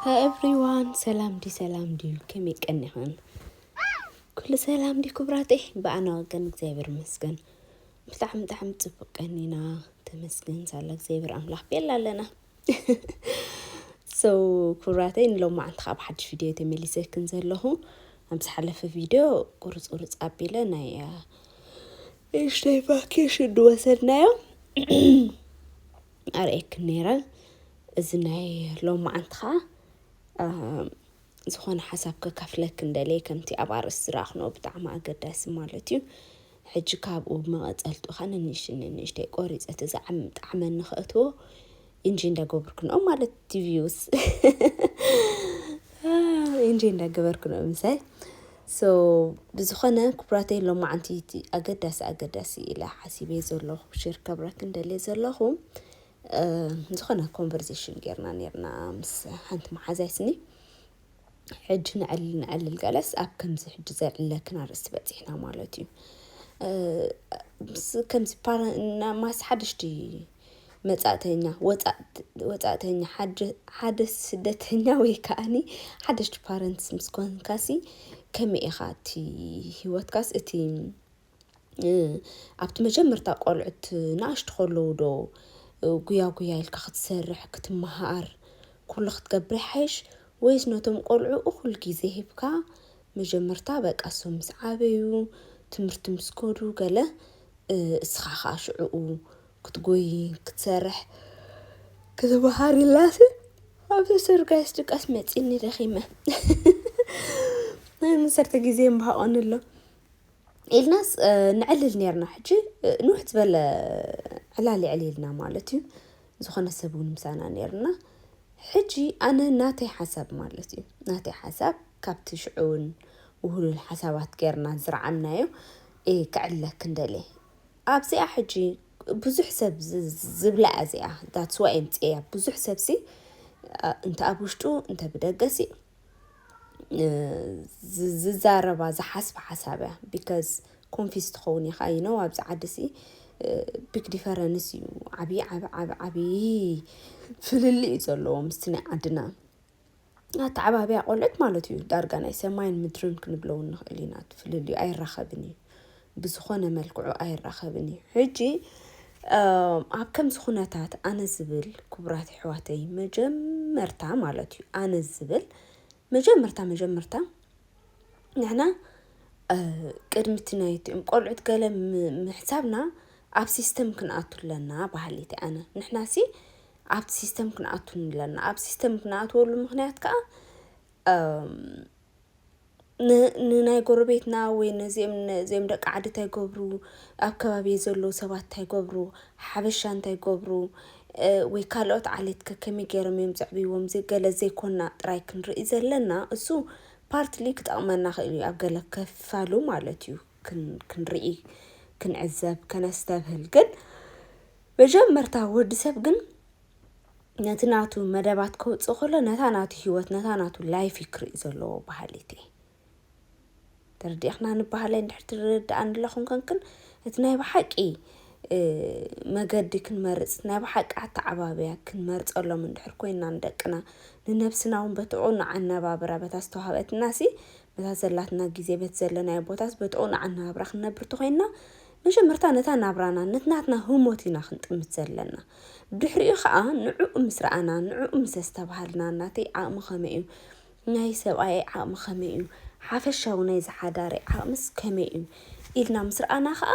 ሃይ ኤቭሪዋን ሰላም ድዩ ሰላም ድዩ ከመይ ቀኒኽን ኩሉ ሰላም ድዩ ክብራተይ ብኣና ወገን እግዚኣብሔር ይመስገን ብጣዕሚ ብጣዕሚ ፅቡቅ ቀኒና ተመስገን ሳላ እግዚኣብሔር ኣምላኽ ቤላ ኣለና ሰው ኩራተይ ንሎም መዓልቲ ካብ ሓድሽ ቪድዮ ተመሊሰክን ዘለኹ ኣብ ዝሓለፈ ቪድዮ ቁርፅ ቁርፅ ኣቢለ ናይ እሽተይ ቫኬሽን ድወሰድናዮ ኣርእየክን ነይረ እዚ ናይ ሎማዓንቲ ከኣ ዝኾነ ሓሳብ ከካፍለክን ደልየ ከምቲ ኣብ ኣርእስቲ ዝረኣኽንኦ ብጣዕሚ ኣገዳሲ ማለት እዩ ሕጂ ካብኡ መቐጸልቱ ከኣ ንንእሽተይ ንንእሽተይ ቆሪጸ እቲ ዝዓም ጣዕመኒ ከእትዎ ኢንጆይ እንዳገበርክንኦ ማለት ቲቪውስ ኢንጆይ እንዳገበርክንኦ ምሳይ So ብዝኾነ ኩቡራተይ ሎማዓንቲ እዩ እቲ ኣገዳሲ ኣገዳሲ ኢለ ሓሲበ ዘለኹ ሼር ከብረክን ደልየ ዘለኹ ዝኾነ ኮንቨርዜሽን ጌርና ኔርና ምስ ሓንቲ መሓዛይ ስኒ ሕጂ ንዕልል ንዕልል ገለስ ኣብ ከምዚ ሕጂ ዘዕለክን ኣርእስቲ በጺሕና ማለት እዩ ምስ ከምዚ ፓራ ማስ ሓደሽቲ መጻእተኛ፣ ወጻእት፣ ወጻእተኛ፣ ሓድ፣ ሓደ ስደተኛ ወይ ከኣኒ ሓደሽቲ ፓረንትስ ምስ ኮንካሲ ከመይ ኢኻ እቲ ሂወትካስ እቲ ኣብቲ መጀመርታ ቆልዑት ንኣሽቱ ከለዉ ዶ ጉያ ጉያ ኢልካ ክትሰርሕ ክትመሃር ኩሉ ክትገብር ይሓይሽ ወይስ ነቶም ቆልዑ እኹል ግዜ ሂብካ መጀመርታ በቃ እሶም ምስ ዓበዩ ትምህርቲ ምስ ከዱ ገለ እስኻ ከኣ ሽዑኡ ክትጎይ ክትሰርሕ ክትምሃር ኢላሲ ኣብ ሰርጋይስ ድቃስ መጺኒ ደኺመ ናይ መሰርተ ግዜ ምባሃቆኒ ኣሎ ኢልናስ ንዕልል ነርና ሕጂ ንውሕ ዝበለ ዕላል የዕሊልና ማለት እዩ ዝኾነ ሰብ እውን ምሳና ነርና ሕጂ ኣነ ናተይ ሓሳብ ማለት እዩ ናተይ ሓሳብ ካብቲ ሽዑ ውን ውህሉል ሓሳባት ጌርና ዝረዓምናዮ እየ ክዕለክን ደልየ። ኣብዚኣ ሕጂ ብዙሕ ሰብ ዝብላ እያ እዚኣ that's why ኣምጺኤያ ብዙሕ ሰብሲ እንተ ኣብ ውሽጡ እንተ ብደገሲ ዝዛረባ ዝሓስባ ሓሳብ እያ because ኮንፊዝ ትኸውን ኢኻ you know ኣብዚ ዓዲሲ ቢግ ዲፈረንስ እዩ ዓብዪ ዓብዪ ፍልልይ እዩ ዘለዎ ምስቲ ናይ ዓድና ኣተዓባብያ ቆልዑት ማለት እዩ ዳርጋ ናይ ሰማይን ምድርን ክንብሎ እውን ንኽእል ኢና እቲ ፍልልዩ ኣይራኸብን እዩ ብዝኾነ መልክዑ ኣይራኸብን እዩ ሕጂ ኣብ ከምዚ ኩነታት ኣነ ዝብል ክቡራት ኣሕዋተይ መጀመርታ ማለት እዩ ኣነ ዝብል መጀመርታ መጀመርታ ንሕና ቅድሚ እቲ ናይ እቲኦም ቆልዑት ገለ ምሕሳብና ኣብ ሲስተም ክንኣቱ ኣለና በሃሊት ኣነ ንሕና ሲ ኣብቲ ሲስተም ክንኣቱ ኣለና ኣብ ሲስተም ክንኣትወሉ ምክንያት ከዓ ንናይ ጎረቤትና ወይ ነዚኦም ደቂ ዓዲ እንታይ ገብሩ ኣብ ከባቢ ዘለዉ ሰባት እንታይ ገብሩ ሓበሻ እንታይ ገብሩ ወይ ካልኦት ዓሌት ከ ከመይ ገይሮም እዮም ዘዕብዎም ገለ ዘይኮና ጥራይ ክንርኢ ዘለና እሱ ፓርትሊ ክጠቕመና ክእል እዩ ኣብ ገለ ከፋሉ ማለት እዩ ክንርኢ ክንዕዘብ ከነስተብህል ግን መጀመርታ ወዲ ሰብ ግን ነቲ ናቱ መደባት ከውፅእ ከሎ ነታ ናቱ ሂወት ነታ ናቱ ላይፍ እዩ ክርኢ ዘለዎ በሃሊት እየ ተረዲእኽና ንበሃለይ እንድሕር ትርድኣኒ ኣለኹም ከንክን እቲ ናይ ብሓቂ መገዲ ክንመርፅ ናይ ብሓቂ ኣተዓባብያ ክንመርፀሎም እንድሕር ኮይና ንደቅና ንነብስና እውን በቲ ዑን ኣነባብራ በታ ዝተዋሃበትና ሲ በታ ዘላትና ግዜ በቲ ዘለናዮ ቦታስ በቲ ዑን ኣነባብራ ክንነብር ተኮይንና መጀመርታ ነታ ናብራና ነቲ ናትና ህሞት ኢና ክንጥምት ዘለና ብድሕሪኡ ከኣ ንዕኡ ምስ ረኣና ንዕኡ ምስ ኣስተባሃልና ናተይ ዓቕሚ ከመይ እዩ ናይ ሰብኣየይ ዓቕሚ ከመይ እዩ ሓፈሻዊ ናይ ዝሓዳረይ ዓቕምስ ከመይ እዩ ኢልና ምስ ረኣና ከኣ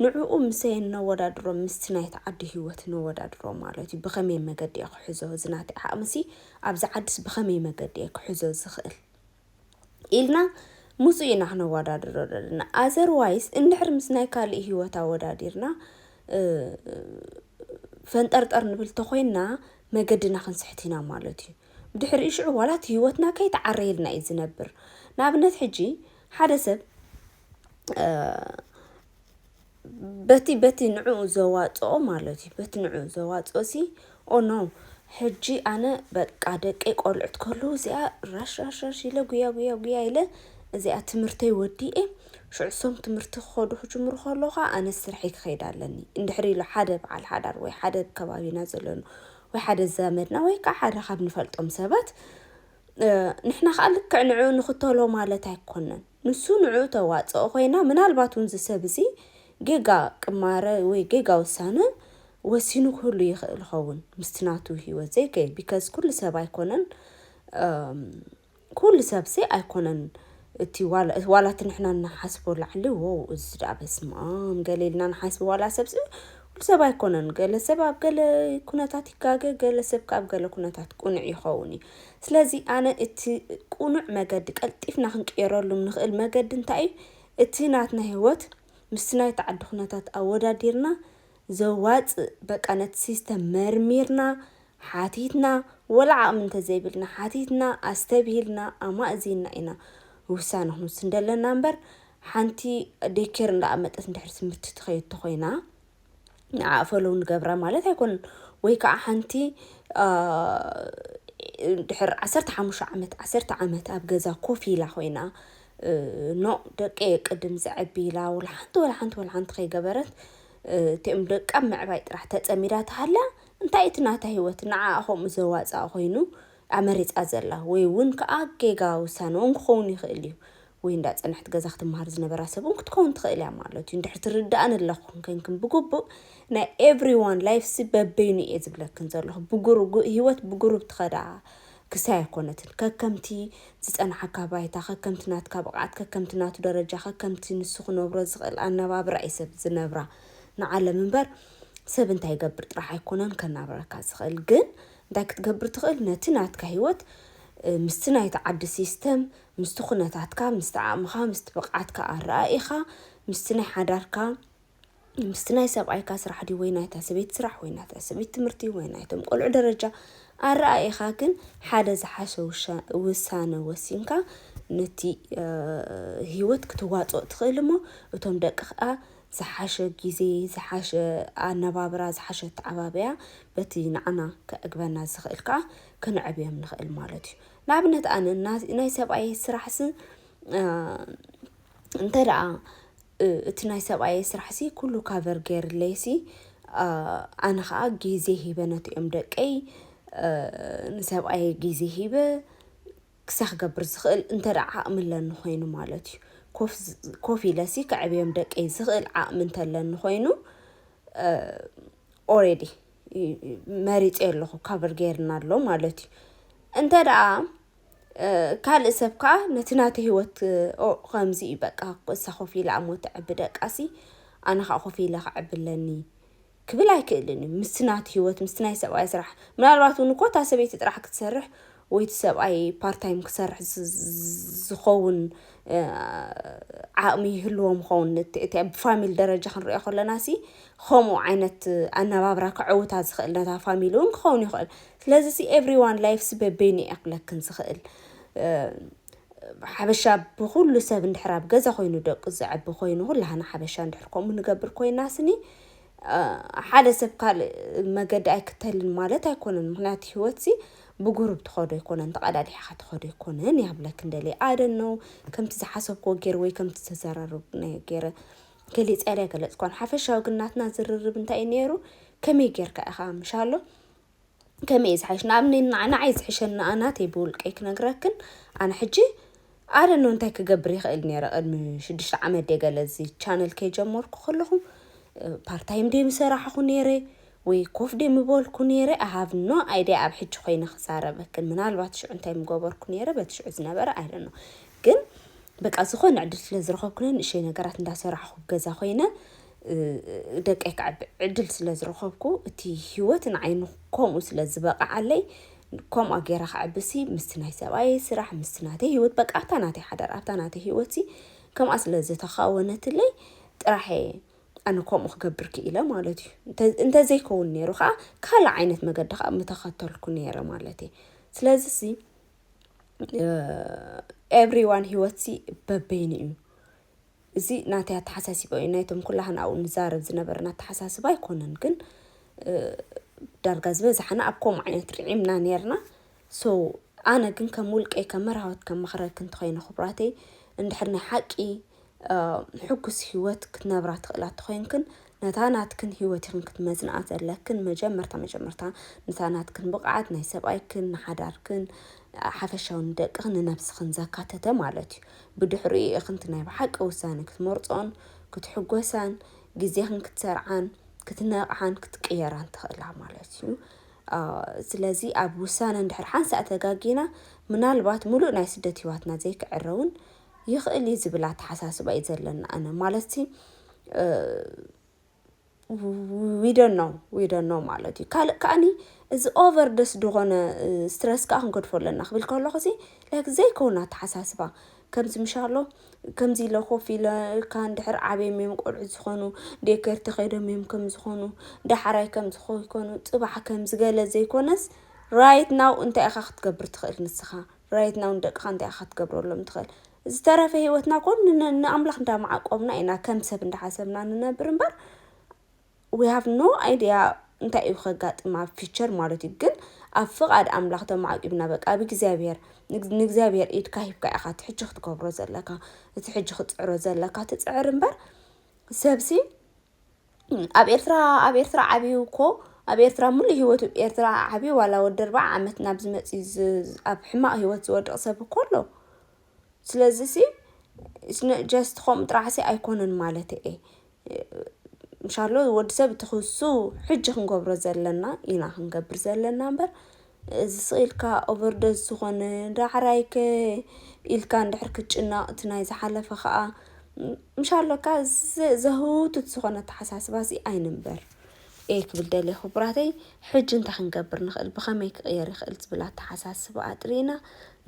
ንዕኡ ምስ ነወዳድሮ ምስቲ ናይቲ ዓዲ ህይወት ነወዳድሮ ማለት እዩ ብኸመይ መገዲ እየ ክሕዞ እዚ ናተይ ዓቕምሲ ኣብዚ ዓድስ ብኸመይ መገዲ እየ ክሕዞ ዝኽእል ኢልና ምጹእ ኢና ክነወዳድሮ ዘለና ኣዘርዋይስ እንድሕር ምስ ናይ ካልእ ህይወት ኣወዳዲርና ፈንጠርጠር ንብል ተኾይንና መገድና ክንስሕት ኢና ማለት እዩ ብድሕሪኡ ሽዑ ዋላ እቲ ህይወትና ከይተዓረየልና እዩ ዝነብር ንኣብነት ሕጂ ሓደ ሰብ በቲ በቲ ንዕኡ ዘዋጽኦ ማለት እዩ በቲ ንዕኡ ዘዋጽኦ ሲ ኦ ኖ ሕጂ ኣነ በቃ ደቀይ ቆልዑት ከለዉ እዚኣ ራሽራሽራሽ ኢለ ጉያ ጉያ ጉያ ኢለ እዚኣ ትምህርተይ ወዲኤ ሽዑ ሶም ትምህርቲ ክኸዱ ክጅምሩ ከለዉ ከዓ ኣነ ስርሐይ ክኸይድ ኣለኒ እንድሕሪ ኢሉ ሓደ በዓል ሓዳር ወይ ሓደ ኣብ ከባቢና ዘለኑ ወይ ሓደ ዘመድና ወይ ከዓ ሓደ ካብ ንፈልጦም ሰባት ንሕና ከዓ ልክዕ ንዕኡ ንኽተሎ ማለት ኣይኮነን ንሱ ንዕኡ ተዋጽኦ ኮይና ምናልባት ውን እዚ ሰብ እዚ ጌጋ ቅማረ ወይ ጌጋ ውሳነ ወሲኑ ክህሉ ይኽእል ይኸውን ምስቲ ናቱ ሂወት ዘይከይድ ቢከዝ ኩሉ ሰብ ኣይኮነን ኩሉ ሰብሲ ኣይኮነን እቲ ዋላ እቲ ንሕና ንሓስቦ ላዕሊ ዎው እዚ ደኣ በስምኣም ገለ ኢልና ንሓስቦ ዋላ ሰብሲ ኩሉ ሰብ ኣይኮነን ገለ ሰብ ኣብ ገለ ኩነታት ይጋገ ገለ ሰብ ከኣ ኣብ ገለ ኩነታት ቅኑዕ ይኸውን እዩ። ስለዚ ኣነ እቲ ቁኑዕ መገዲ ቀልጢፍና ክንቅየረሉም ንክእል መገዲ እንታይ እዩ እቲ ናትና ሂወት ምስቲ ናይቲ ዓዲ ኩነታት ኣወዳዲርና ዘዋጽእ በቃ ነቲ ሲስተም መርሚርና ሓቲትና ወላ ዓቅሚ እንተዘይብልና ሓቲትና ኣስተብሂልና ኣማእዚና ኢና ውሳነ ክንውስን ደለና እምበር ሓንቲ ዴኬር እንዳኣመጠት እንድሕር ትምህርቲ ትከይድ ተኮይና ንዓ ፈለው ንገብራ ማለት ኣይኮን ወይ ከዓ ሓንቲ ድሕር ዓሰርተ ሓሙሽተ ዓመት ዓሰርተ ዓመት ኣብ ገዛ ኮፍ ኢላ ኮይና ኖ ደቂ ቅድም ዘዐቢ ኢላ ወላ ሓንቲ ወላ ሓንቲ ወላ ሓንቲ ከይገበረት እቲኦም ደቃ ምዕባይ ጥራሕ ተፀሚዳ ተሃላ እንታይ እቲ ናታ ሂወት ንዓ ከምኡ ዘዋፅኣ ኮይኑ እያ መሪጻ ዘላ ወይ ውን ከኣ ጌጋ ውሳነ ውን ክኸውን ይኽእል እዩ ወይ እንዳ ጸንሕት ገዛ ክትመሃር ዝነበራ ሰብ ውን ክትከውን ትኽእል እያ ማለት እዩ እንድሕር ትርድኣኒ ኣለኽን ከንክን ብግቡእ ናይ ኤቭሪ ዋን ላይፍ ሲ በበይኑ እየ ዝብለክን ዘለኹ ብጉሩ ሂወት ብጉሩብ ትኸዳ ክሲ ኣይኮነትን ከከምቲ ዝጸንሓካ ባይታ ከከምቲ ናትካ ብቕዓት ከከምቲ ናቱ ደረጃ ከከምቲ ንሱ ክነብሮ ዝኽእል ኣነባብራ እዩ ሰብ ዝነብራ ንዓለም እምበር ሰብ እንታይ ይገብር ጥራሕ ኣይኮነን ከናብረካ ዝኽእል ግን እንታይ ክትገብር ትኽእል? ነቲ ናትካ ህይወት ምስቲ ናይቲ ዓዲ ሲስተም፣ ምስቲ ኩነታትካ፣ ምስቲ ዓቕምኻ፣ ምስቲ ብቕዓትካ፣ ኣረኣኢኻ፣ ምስቲ ናይ ሓዳርካ፣ ምስቲ ናይ ሰብኣይካ ስራሕ ድዩ ወይ ናይታ ሰበይቲ ስራሕ ወይ ናይታ ሰበይቲ ትምህርቲ ወይ ናይቶም ቆልዑ ደረጃ ኣረኣኢኻ ግን ሓደ ዝሓሸ ውሳነ ወሲንካ ነቲ ህይወት ክትዋፅኦ ትኽእል እሞ እቶም ደቅኻ ዝሓሸ ግዜ፣ ዝሓሸ ኣነባብራ፣ ዝሓሸ ኣተዓባብያ በቲ ንዓና ከዕግበና ዝኽእል ከኣ ክንዕብዮም ንኽእል ማለት እዩ። ንኣብነት ኣነ ናይ ሰብኣየይ ስራሕሲ እንተ ደኣ እቲ ናይ ሰብኣየይ ስራሕሲ ኩሉ ካቨር ገይርለይሲ ኣነ ኸኣ ግዜ ሂበ ነቲኦም ደቀይ ንሰብኣየይ ግዜ ሂበ ክሳዕ ክገብር ዝኽእል እንተድኣ ዓቕሚ ኣለኒ ኮይኑ ማለት እዩ። ኮፍ ኢለሲ ከዕብዮም ደቀይ ዝኽእል ዓቕሚ እንተለኒ ኮይኑ ኦሬዲ መሪፀዮ ኣለኹ ካቨር ገይርና ኣሎ ማለት እዩ። እንተድኣ ካልእ ሰብ ከዓ ነቲ ናተ ህይወት ከምዚ እዩ በቃ እሳ ኮፍ ኢላ እሞ ተዕቢ ደቃሲ ኣነ ከዓ ኮፍ ኢለ ከዕቢ ኣለኒ ክብል ኣይክእልን እዩ ምስቲ ናቱ ሂወት ምስቲ ናይ ሰብኣያ ስራሕ ምናልባት ውን እኮ እታ ሰበይቲ ጥራሕ ክትሰርሕ ወይ እቲ ሰብኣይ ፓርታይም ክሰርሕ ዝኸውን ዓቕሚ ይህልዎም ይኸውን እቲ ብፋሚሊ ደረጃ ክንሪኦ ከለና ሲ ከምኡ ዓይነት ኣነባብራ ከዕውታ ዝኽእል ነታ ፋሚሊ ውን ክኸውን ይኽእል ስለዚ ሲ ኤቭሪ ዋን ላይፍስ በበይኑ እየ ክብለክን ዝኽእል ሓበሻ ብኹሉ ሰብ እንድሕር ኣብ ገዛ ኮይኑ ደቁ ዘዕቢ ኮይኑ ኩላህና ሓበሻ እንድሕር ከምኡ ንገብር ኮይና ስኒ ሓደ ሰብ ካልእ መገዲ ኣይክተልን ማለት ኣይኮነን ምክንያቱ ሂወትሲ ብጉሩብ ትከዶ ኣይኮነን ተቀዳዲሕካ ትከዶ ኣይኮነን እያ ክብለክን ደልየ ኣይ ዶን ኖው ከምቲ ዝሓሰብክዎ ጌረ ወይ ከምቲ ዝተዘራረብናዮ ጌረ ገሊፀ ድየ ኣይገለፅክዋን ሓፈሻዊ ግን ናትና ዝርርብ እንታይ እዩ ኔሩ ከመይ ጌርካ ኢካ ምሻሎ ከመይ እዩ ዝሓይሽ ንኣብነይ ንዓይ ዝሕሸኒ ኣነ ናተይ ብውልቀይ ክነግረክን ኣነ ሕጂ ኣረኖ እንታይ ክገብር ይኽእል ነይረ ቅድሚ ሽዱሽተ ዓመት ደ ገለ እዚ ቻነል ከይጀመርኩ ከለኹ ፓርታይም ደ ምሰራሕኹ ነይረ ወይ ኮፍ ደ ምበልኩ ነይረ ኣሃብ ኖ ኣይዲያ ኣብ ሕጂ ኮይነ ክዛረበክን ምናልባት ሽዑ እንታይ ምገበርኩ ነይረ በቲ ሽዑ ዝነበረ ኣይደኖ ግን በቃ ዝኾነ ዕድል ስለ ዝረኸብኩነ ንእሸይ ነገራት እንዳሰራሕኹ ገዛ ኮይነ ደቀይ ከዕቢ ዕድል ስለ ዝረኸብኩ እቲ ሂወት ንዓይ ንከምኡ ስለ ዝበቐዓለይ ከምኣ ገይረ ከዕብሲ ምስቲ ናይ ሰብኣየይ ስራሕ ምስቲ ናተይ ሂወት በቃ ኣብታ ናተይ ሓዳር ኣብታ ናተይ ሂወትሲ ከምኣ ስለ ዝተኻወነትለይ ጥራሕ እየ ኣነ ከምኡ ክገብር ክኢለ ማለት እዩ። እንተዘይከውን ነይሩ ከዓ ካልእ ዓይነት መገዲ ከዓ ምተኸተልኩ ነይረ ማለት እየ። ስለዚ ሲ ኤቭሪዋን ሂወትሲ በበይኑ እዩ። እዚ ናተይ ኣተሓሳሲባ እዩ ናይቶም ኩላህና ኣብኡ ንዛረብ ዝነበርና ኣተሓሳስባ ኣይኮነን ግን ዳርጋ ዝበዝሓና ኣብ ከምኡ ዓይነት ርዒምና ነርና ሶ ኣነ ግን ከም ውልቀይ ከም መርሃወት ከም መኽረክ እንተኾይነ ክቡራተይ እንድሕር ናይ ሓቂ ሕጉስ ህይወት ክትነብራ ትኽእላ ተኾይንክን ነታ ናትክን ህይወት ኢኽን ክትመዝንኣ ዘለክን፣ መጀመርታ መጀመርታ ነታ ናትክን ብቕዓት ናይ ሰብኣይክን፣ ንሓዳርክን፣ ሓፈሻዊ ንደቅኽን ንነብስኽን ዘካተተ ማለት እዩ። ብድሕሪኡ ኢኽን እቲ ናይ ብሓቂ ውሳነ ክትመርጾን ክትሕጎሳን ግዜኽን ክትሰርዓን ክትነቕሓን ክትቅየራን ትኽእላ ማለት እዩ። ስለዚ ኣብ ውሳነ እንድሕር ሓንሳእ ተጋጊና ምናልባት ምሉእ ናይ ስደት ህይዋትና ዘይክዕረውን ይኽእል እዩ ዝብል ኣተሓሳስባ እዩ ዘለና ኣነ ማለትሲ ዊደኖ ዊደኖ ማለት እዩ ካልእ ከዓኒ እዚ ኦቨር ደስ ዝኾነ ስትረስ ከዓ ክንገድፎ ኣለና ክብል ከለኹ እዚ ላይክ ዘይኮነ ኣተሓሳስባ ከምዚ ምሻሎ ከምዚ ኢለ ኮፍ ኢለ እካ እንድሕር ዓብዮም እዮም ቆልዑ ዝኾኑ ዴከር ተኸይዶም እዮም ከም ዝኾኑ ዳሓራይ ከም ዝኾይኮኑ ፅባሕ ከምዝገለ ዘይኮነስ ራይት ናው እንታይ ኢኻ ክትገብር ትኽእል ንስኻ right now ንደቅኻ እንታይ ኢኻ ክትገብረሎም ትኽእል? ዝተረፈ ህይወትና እኮ ንኣምላኽ እንዳመዓቆብና ኢና ከም ሰብ እንዳሓሰብና ንነብር እምበር we have no idea እንታይ እዩ ከጋጥም ኣብ ፊቸር ማለት እዩ ግን ኣብ ፍቓድ ኣምላኽ ተመዓቂብና በቃ ኣብ እግዚኣብሔር ንእግዚኣብሔር ኢድካ ሂብካ ኢኻ እቲ ሕጂ ክትገብሮ ዘለካ እቲ ሕጂ ክትፅዕሮ ዘለካ ትፅዕር እምበር ሰብሲ ኣብ ኤርትራ ኣብ ኤርትራ ዓብዩ እኮ ኣብ ኤርትራ ሙሉእ ሂወቱ ኣብ ኤርትራ ዓብዩ ዋላ ወዲ ኣርብዓ ዓመት ናብ ዝመጽእ ኣብ ሕማቅ ሂወት ዝወድቅ ሰብ እኮ ኣሎ ስለዚ ሲ ኢትስ ኖት ጀስት ከምኡ ጥራሕ ሲ ኣይኮነን ማለተይ እየ እንሻሎ ወዲ ሰብ እቲ ክሱ ሕጂ ክንገብሮ ዘለና ኢና ክንገብር ዘለና እምበር። እዚ ስቅ ኢልካ ኦቨርዶዝ ዝኾነ ዳዕራይ ከ ኢልካ እንድሕር ክትጭነቅ እቲ ናይ ዝሓለፈ ከኣ ምሽ ኣሎካ ዘህውትት ዝኾነ ኣተሓሳስባ ሲ ኣይንንበር እየ ክብል ደልየ ክቡራተይ ሕጂ እንታይ ክንገብር ንኽእል ብኸመይ ክቕየር ይኽእል ዝብል ኣተሓሳስባ ኣጥሪና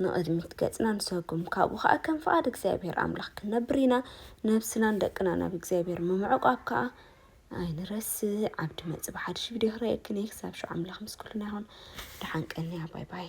ንቕድሚት ገጽና ንሰጉም ካብኡ ከኣ ከም ፍቓድ እግዚኣብሔር ኣምላኽ ክንነብር ኢና ነብስናን ደቅና ናብ እግዚኣብሔር ምምዕቋብ ከኣ ኣይንረስዕ ዓብዲ መጽ ብሓድሽ ቪድዮ ክረኤክን እየ ክሳብ ሽዑ ኣምላኽ ምስ ኩልና ይኹን ድሓን ቀንያ ባይ ባይ።